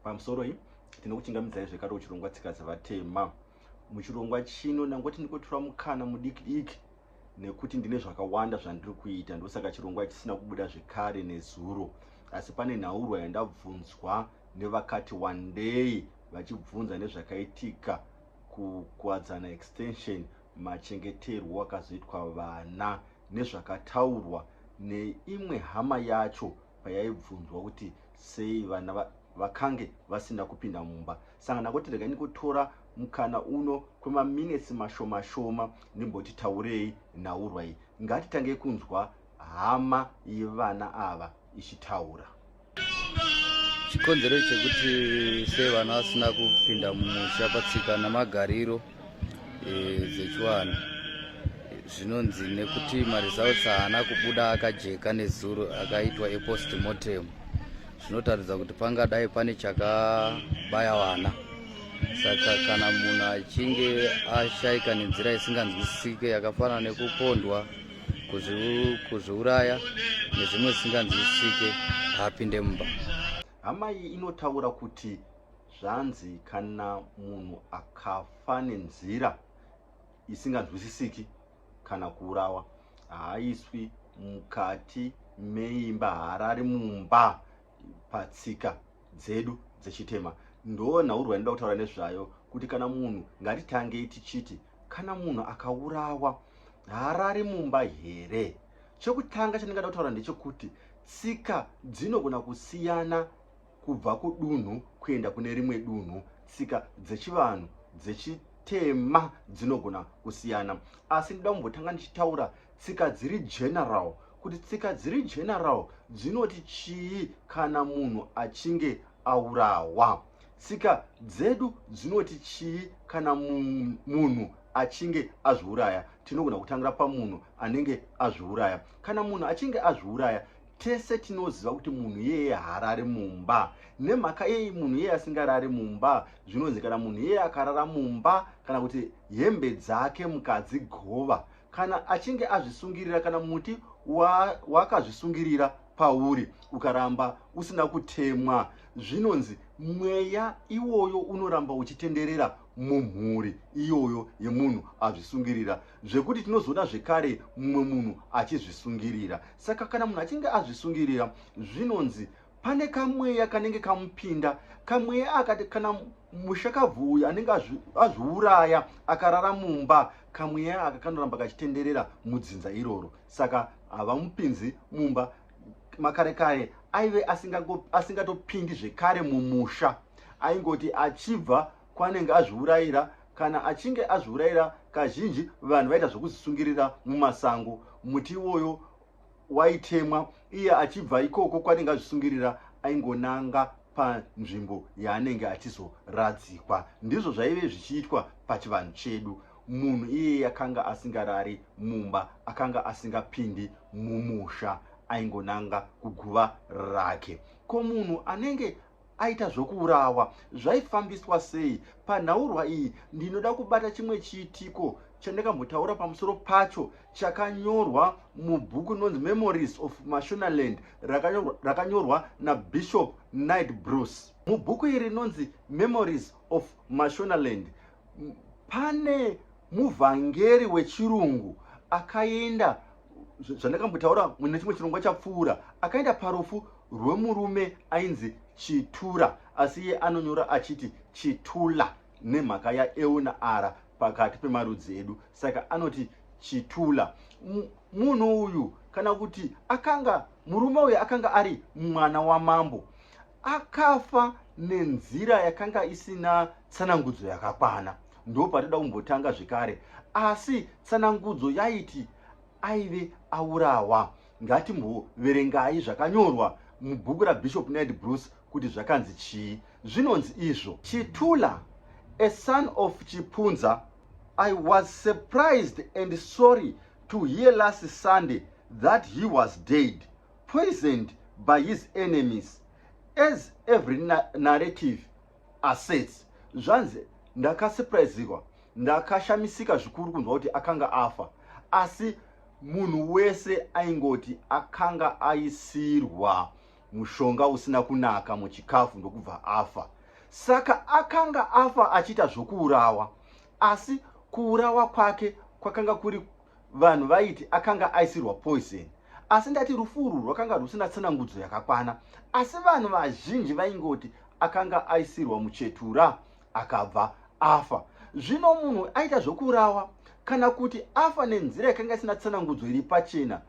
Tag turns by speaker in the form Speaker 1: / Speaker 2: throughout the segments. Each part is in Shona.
Speaker 1: Pamusoro iyi tinokuchingamidzai zvekare uchirongwa tsika dzevatema muchirongwa chino ndangoti ndikotora mukana mudiki diki nekuti ndine zvakawanda zvandiri kuita ndosaka chirongwa chisina kubuda zvekare nezuro asi pane nhaurwa yandabvunzwa nevakati wandei vachibvunza nezvakaitika kukwadzana extension machengeterwo akazoitwa vana nezvakataurwa neimwe hama yacho payaibvunzwa kuti sei vana vakange vasina kupinda mumba sangana kuti rega nikutora mukana uno kwemaminetsi mashoma shoma ndimboti taurei nhaurwai ngatitange kunzwa hama yevana ava ichitaura
Speaker 2: chikonzero chekuti sei vana vasina kupinda mumusha patsika namagariro eh, zvechiwani zvinonzi nekuti maresults haana kubuda akajeka nezuro akaitwa epost mortem zvinotaridza kuti pangadai pane chakabaya vana saka kana munhu achinge ashaika nenzira isinganzwisisike yakafanana nekupondwa kuzviuraya nezvimwe zvisinganzwisisike haapinde mumba hama iyi
Speaker 1: inotaura kuti Zvanzi kana munhu akafa nenzira isinganzwisisiki kana kuurawa haaiswi mukati meimba haarari mumba patsika dzedu dzechitema ndo nhaurwa inoda kutaura nezvayo kuti kana munhu ngatitangei tichiti kana munhu akaurawa haarari mumba here chekutanga chandingada kutaura ndechekuti tsika dzinogona kusiyana kubva kudunhu kuenda kune rimwe dunhu tsika dzechivanhu dzechitema dzinogona kusiyana asi ndida kumbotanga ndichitaura tsika dziri general kuti tsika dziri general dzinoti chii kana munhu achinge aurawa tsika dzedu dzinoti chii kana munhu achinge azviuraya tinogona kutangira pamunhu anenge azviuraya kana munhu achinge azviuraya tese tinoziva kuti munhu iyeye haarari mumba nemhaka yei munhu iyeye asingarari mumba zvinonzi kana munhu iyeye akarara mumba kana kuti hembe dzake mukadzi gova kana achinge azvisungirira kana muti wakazvisungirira wa pauri ukaramba usina kutemwa zvinonzi mweya iwoyo unoramba uchitenderera mumhuri iyoyo yemunhu azvisungirira zvekuti tinozoda zvekare mumwe munhu achizvisungirira saka kana munhu achinge azvisungirira zvinonzi pane kamweya kanenge kamupinda kamweya akati kana mushakabvu uyu anenge azviuraya akarara mumba kamweya aka kanoramba kachitenderera mudzinza iroro saka havamupinzi mumba Makarekaye aive asingatopindi asinga zvekare mumusha aingoti achibva kwanenge azviurayira kana achinge azviurayira kazhinji vanhu vaita zvokuzvisungirira mumasango muti iwoyo waitemwa iye achibva ikoko kwanenge azvisungirira aingonanga panzvimbo yaanenge achizoradzikwa ndizvo zvaive zvichiitwa pachivanhu chedu munhu iyeye akanga asingarari mumba akanga asingapindi mumusha aingonanga kuguva rake ko munhu anenge aita zvokuurawa zvaifambiswa sei panhaurwa iyi ndinoda kubata chimwe chiitiko chandakambotaura pamusoro pacho chakanyorwa mubhuku inonzi memories of mashonaland rakanyorwa nabishop night bruce mubhuku iri rinonzi memories of mashonaland pane muvhangeri wechirungu akaenda zvandakambotaura mune chimwe chirongwa chapfuura akaenda parufu rwemurume ainzi chitura asi iye anonyora achiti chitula nemhaka yaeuna ara pakati pemarudzi edu saka anoti chitula munhu uyu kana kuti akanga murume uyu akanga ari mwana wamambo akafa nenzira yakanga isina tsanangudzo yakakwana ndo patida kumbotanga zvekare asi tsanangudzo yaiti aive aurawa ngatimboverengai zvakanyorwa mubhuku rabishop ned bruce kuti zvakanzi chii zvinonzi izvo chitula a son of chipunza i was surprised and sorry to hear last sunday that he was dead poisoned by his enemies as every na narrative assets zvanzi ndakasuprisirwa ndakashamisika zvikuru kunzwa kuti akanga afa asi munhu wese aingoti akanga aisirwa mushonga usina kunaka muchikafu ndokubva afa saka akanga afa achiita zvokuurawa asi kuurawa kwake kwakanga kuri vanhu vaiti akanga aisirwa poison asi ndati rufu urwu rwakanga rwusina tsanangudzo yakakwana asi vanhu vazhinji vaingoti akanga aisirwa muchetura akabva afa zvino munhu aita zvokuurawa kana kuti afa nenzira yakanga isina tsanangudzo iri pachena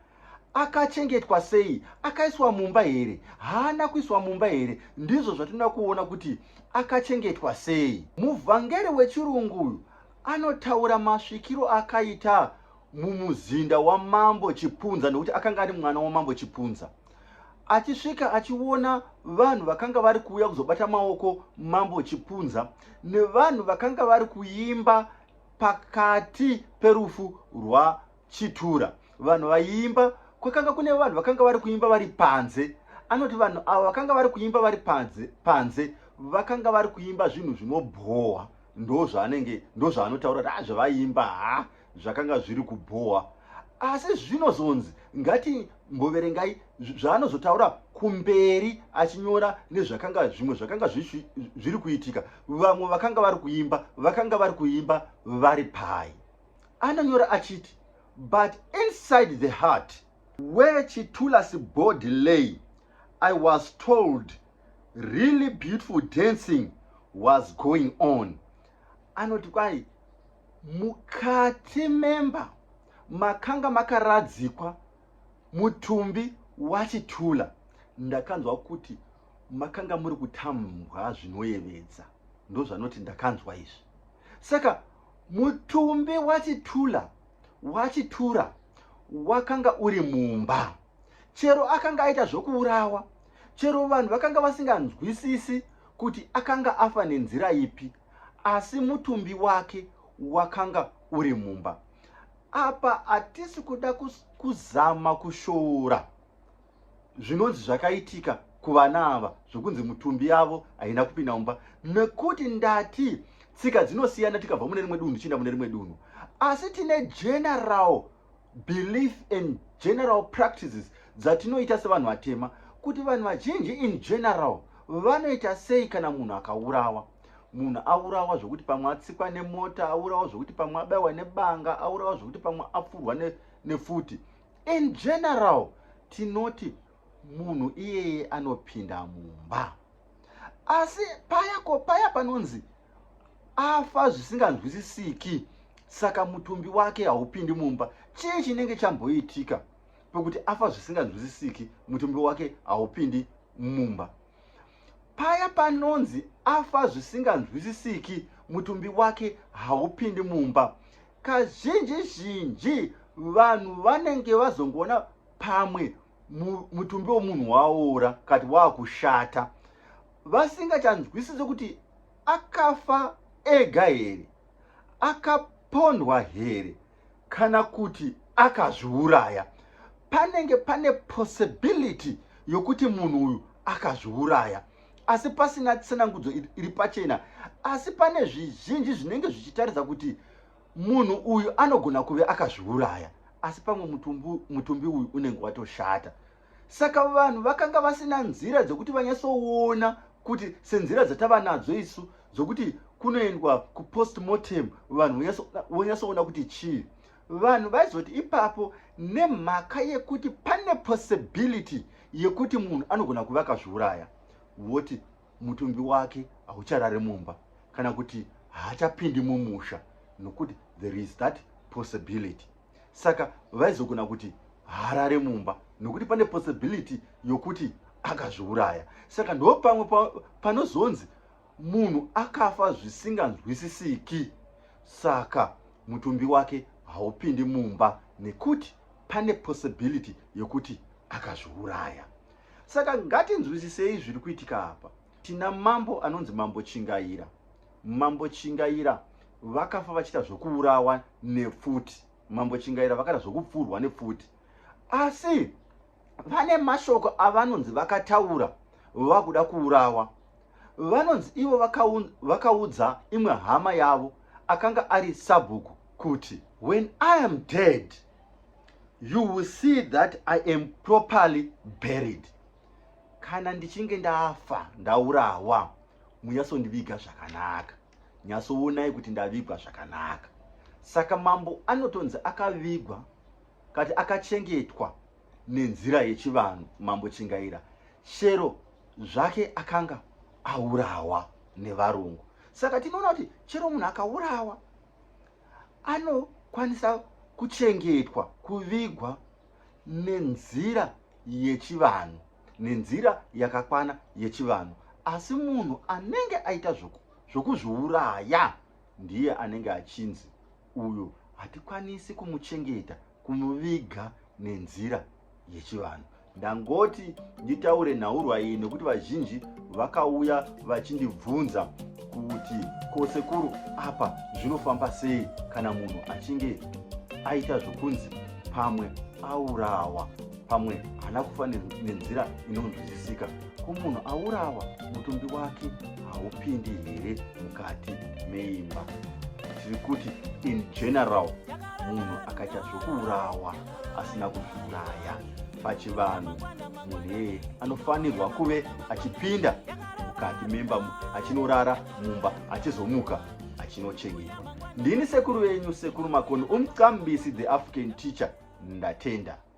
Speaker 1: akachengetwa sei akaiswa mumba here haana kuiswa mumba here ndizvo zvatinoda kuona kuti akachengetwa sei muvhangeri wechirungu uyu Anotaura masvikiro akaita mumuzinda wamambo Chipunza nekuti akanga ari mwana wamambo Chipunza. Achisvika achiona vanhu vakanga vari kuuya kuzobata maoko mambo Chipunza nevanhu vakanga vari kuimba pakati perufu rwaChitura. Vanhu vaiimba kwakanga kune vanhu vakanga vari kuimba vari panze. Anoti vanhu ava vakanga vari kuimba vari panze, panze vakanga vari kuimba zvinhu zvinobhowa. ndozvaanenge ndozvaanotaura kuti azvavaiimba ah, ha zvakanga zviri kubhowa asi zvinozonzi ngati mboverengai zvaanozotaura kumberi achinyora nezvakanga zvimwe zvakanga zviri kuitika vamwe vakanga vari kuimba vakanga vari kuimba vari pai anonyora achiti but inside the heart where chitulasi body lay i was told really beautiful dancing was going on anoti kwai mukati memba makanga makaradzikwa mutumbi wachitula ndakanzwa kuti makanga muri kutambwa zvinoyevedza ndozvanoti ndakanzwa izvi saka mutumbi wachitula wachitura wakanga uri mumba chero akanga aita zvokuurawa chero vanhu vakanga vasinganzwisisi kuti akanga afa nenzira ipi asi mutumbi wake wakanga uri mumba apa hatisi kuda kuzama kushoora zvinonzi zvakaitika kuvana ava zvokunzi mutumbi yavo haina kupinda mumba nekuti ndati tsika dzinosiyana tikabva mune rimwe dunhu tichienda mune rimwe dunhu asi tine general belief and general practices dzatinoita sevanhu vatema kuti vanhu vazhinji in general vanoita sei kana munhu akaurawa munhu aurawa zvekuti pamwe atsikwa nemota aurawa zvekuti pamwe abaiwa nebanga aurawa zvekuti pamwe apfurwa nefuti ne in general tinoti munhu iyeye anopinda mumba asi paya ko paya panonzi afa zvisinganzwisisiki saka mutumbi wake haupindi mumba chii chinenge chamboitika pekuti afa zvisinganzwisisiki mutumbi wake haupindi mumba paya panonzi afa zvisinganzwisisiki mutumbi wake haupindi mumba kazhinji zhinji vanhu vanenge vazongoona pamwe mutumbi wemunhu waora kati waakushata vasingachanzwisise kuti akafa ega here akapondwa here kana kuti akazviuraya panenge pane possibility yokuti munhu uyu akazviuraya asi pasina tsanangudzo iri pachena asi pane zvizhinji zvinenge zvichitaridza kuti Munhu uyu anogona kuve akazviuraya asi pamwe mutumbi, mutumbi uyu unenge watoshata. Saka vanhu vakanga vasina nzira dzekuti vanyatsoona kuti senzira dzatava nadzo isu dzokuti kunoendwa kupostmortem vanhu vonyatsoona kuti chii vanhu vaizoti ipapo nemhaka yekuti pane possibility yekuti munhu anogona kuva akazviuraya voti mutumbi wake haucharare mumba kana kuti haachapindi mumusha nokuti there is that possibility saka vaizogona kuti haarare mumba nokuti pane possibility yokuti akazviuraya saka ndo pamwe panozonzi munhu akafa zvisinganzwisisiki saka mutumbi wake haupindi mumba nekuti pane possibility yokuti akazviuraya Saka ngatinzwisisei zviri kuitika apa. Tina mambo anonzi mambo Chingaira. Mambo Chingaira vakafa vachiita zvekuurawa nepfuti. Mambo Chingaira vakaita zvekupfurwa nepfuti. Asi vane mashoko avanonzi vakataura vakuda kuurawa. Vanonzi ivo vakaudza imwe hama yavo akanga ari sabhuku kuti when I am dead you will see that i am properly buried kana ndichinge ndafa ndaurawa munyasondiviga zvakanaka nyasoonai kuti ndavigwa zvakanaka saka mambo anotonzi akavigwa kati akachengetwa nenzira yechivanhu mambo chingaira shero zvake akanga aurawa nevarungu saka tinoona kuti chero munhu akaurawa anokwanisa kuchengetwa kuvigwa nenzira yechivanhu nenzira yakakwana yechivanhu asi munhu anenge aita zvokuzviuraya ndiye anenge achinzi uyu hatikwanisi kumuchengeta kumuviga nenzira yechivanhu ndangoti nditaure nhaurwa iyi nekuti vazhinji vakauya vachindibvunza kuti ko sekuru apa zvinofamba sei kana munhu achinge aita zvokunzi pamwe aurawa pamwe haana kufa nenzira inonzwisisika ko munhu aurawa mutumbi wake haupindi here mukati meimba tiri kuti in general munhu akaita zvokuurawa asina kuzviuraya pachivanhu munhu eye anofanirwa kuve achipinda mukati memba achinorara mumba achizomuka achinochengetwa ndini sekuru venyu sekuru makoni umcambisi the african teacher ndatenda